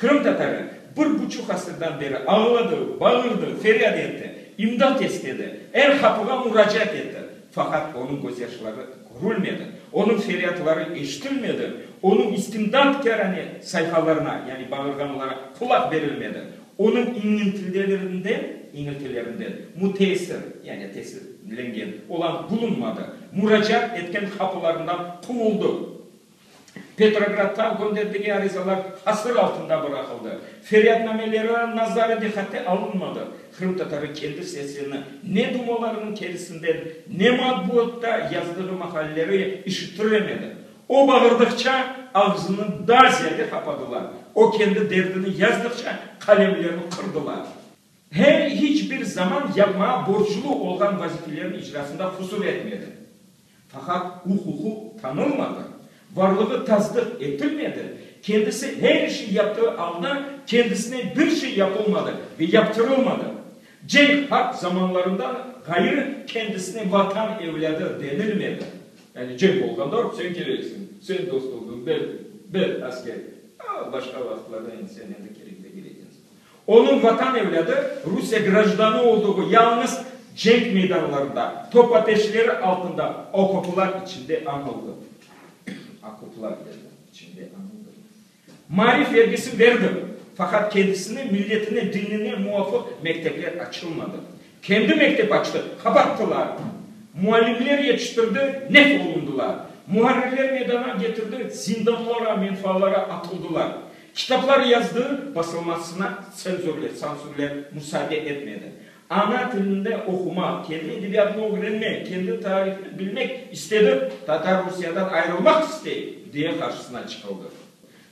Qırımtatarı bir buçuq asırdan beri ağladı, bağırdı, feryat etti, imdat istedi, er qapığa muracaat etti, faqat onıñ gözyaşları körülmedi, onıñ feryatları eşitilmedi, onıñ istimdatkârane sayhalarına, yani bağırğanlara qulaq berilmedi, onıñ iñiltilelerinden, iñiltilerinden, müteessir, yani tesirlengen, olan bulunmadı, muracaat etken qapılarından quvuldı. Petrograddan gönderdiği arizalar hasır altında bıraqıldı. Feryatnameleri nazarı diqqate alınmadı. Qırımtatarı kendi sesini ne dumalarınıñ terisinden, ne matbuatta yazdığı maqaleleri işittiremedi. O bağırdıqça, ağzını daa ziyade qapadılar. O kendi derdini yazdıqça, qalemlerini qırdılar. Hem hiç bir zaman yapmağa borclu olğan vazifelerniñ icrasında qusur etmedi. Faqat uquqı tanılmadı, varlığı tasdıq etilmedi, kendisi her işni yaptığı alda kendisinen bir şey yapılmadı ve yaptırılmadı. Cenk, harp zamanlarından ğayrı kendisine Vatan evlâdı denilmedi. Yani cenk olğanda hop sen kereksiñ, sen dost oldun, ber, ber asker, başqa vaqıtlarda endi sen endi kerek degil ekensiñ. Onıñ vatan evlâdı, Rusiye grajdanı olduğu yalıñız cenk meydanlarında, top ateşleri altında okoplar içinde añıldı. Okoplar içinde añıldı. Maarif vergisini verdim, faqat kendisine, milletine, dinine muvafıq mektepler açılmadı. Kendi mektep açtı, qabarttılar. Muallimler yetiştirdi, nef olundılar. Muharrirler meydana getirdi, zindanlara, menfalara atıldılar. Kitaplar yazdı, basılmasına tsenzurler, sansürler musaade etmedi. Ana tilinde oqumaq, kendi edebiyatını ögrenmek, kendi tarihini bilmek istedi, Tatar Rusiyadan ayrılmaq istey, diye qarşısına çıqıldı.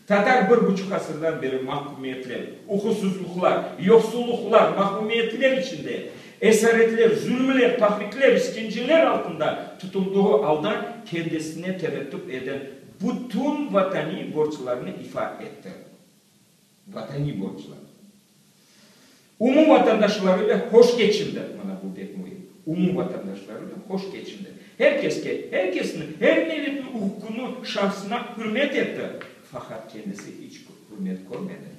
Tatar bir buçuq asırdan beri mahkümiyetler, uquqsızlıqlar, yoqsullıqlar, mahrumiyetler içinde, esaretler, zulmler, tahriqler, iskenceler altında tutuldığı alda kendisine tevettüp eden bütün vataniy borclarını ifa etti. Vataniy borclar. Umum vatandaşlarıyla hoş keçindi, mana bu bek müim, umum vatandaşlarıyla hoş keçindi, her keske, her kesni, her milletni uquqını, şahsına hürmet etti, faqat kendisi iç hürmet körmedi.